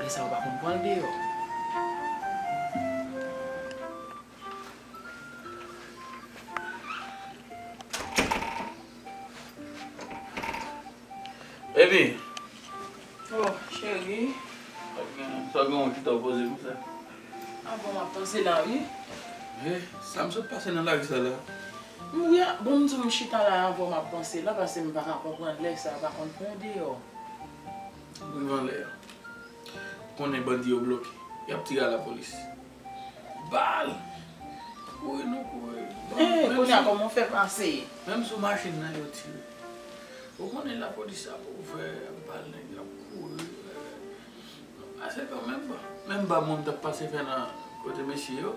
Lè sa yo pa konn pran l deyò. Baby! Oh, cheri. Sa gen yon kite w poze konsa? Ah bon, map panse la wi. He, sa m sot pase nan lari sa la? M ri a, bon m di w m chita la avan w map panse la pase m paka konprann lè sa yo pa konn pran deyò. Moun vanlè yo konnen bandi yo bloke yap tire a la polis. Bal! Kouri nou kouri. Eeh kounya koman ou fè pase. Menm sou machin nan yo tire. Ou konnen la polis ap ouvè bal nèg yo ap kouri eeh. Ase kanmenm. Menm bal moun tap pase fè nan kote mesye yo.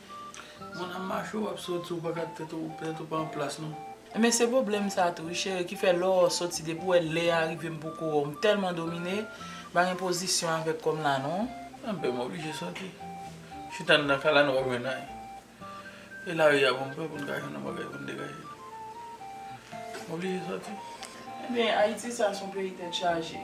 Moun ap mache wap soti ou pa gad tèt ou tèt ou pa an plas non. Ebyen se pwoblèm sa tou wi cheri ki fè lè w soti depi w wè lè a rive m poko wè w m tèlman domine m pa gen pozisyon avèk kò m la non. Anpè m oblije soti. Chita andan kay la nou pap jwenn anyen. E lari a bon pè pou n ka jwenn yon bagay pou n degaje nou. M oblije soti. Ebyen Ayiti sa son peyi tèt chaje.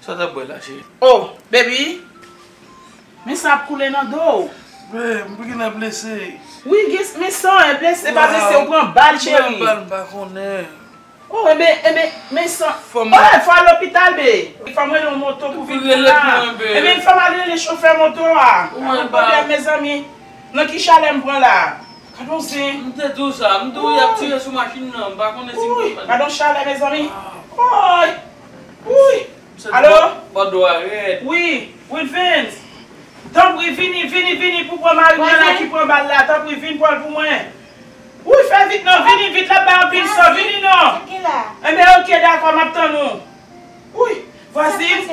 Sa w tap bwè la cheri? Oh baby Men san ap koule nan do w. Babe pou kisa blese? Wi gen men san e blese pa blese ou pran bal cheri. Pran bal m pa konnen. Oh enben enben men san eh fò al lopital bee. Li fem rele yon moto pou vin pran la. Enben li fem al rele chofè moto a. Ou wè ba. Mezanmi nan ki chalè m pran la. Gadon zen. M te di w sa. M di w yap tire sou machin nan. M pa konnen si m konprann. Wouy! Gadon chalè mezanmi. Wouy! Wouy! Alo? Bòdò a rèd. Wi! Wilvens! Tanpri vini, vini, vini pou pran mari mwen la ki pran bal la. Tanpri vin pran l pou mwen. Wouy fè vit non! Vini vit l ap bay anpil san. Vini non! Enben ok dakò m ap tann ou. Wouyy! Vwazin!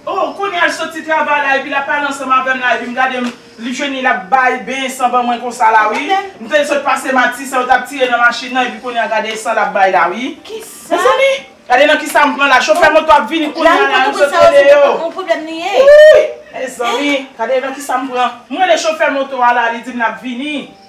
Oh, kounya l soti travay la epi l ap pale ansanm avè m la epi m gade m li jwenn l ap bay benyen san ban mwen konsa la wi. M te sot pase mati sa yo t ap tire nan machin nan epi kounya gade san l ap bay la wi. Mezanmi! Gade nan kisa m pran la. Chofè moto a ap vini kounya la m sot rele yo. Wouyy! Mezanmi! Gade nan kisa m pran. M rele chofè moto a la li di m l ap vini.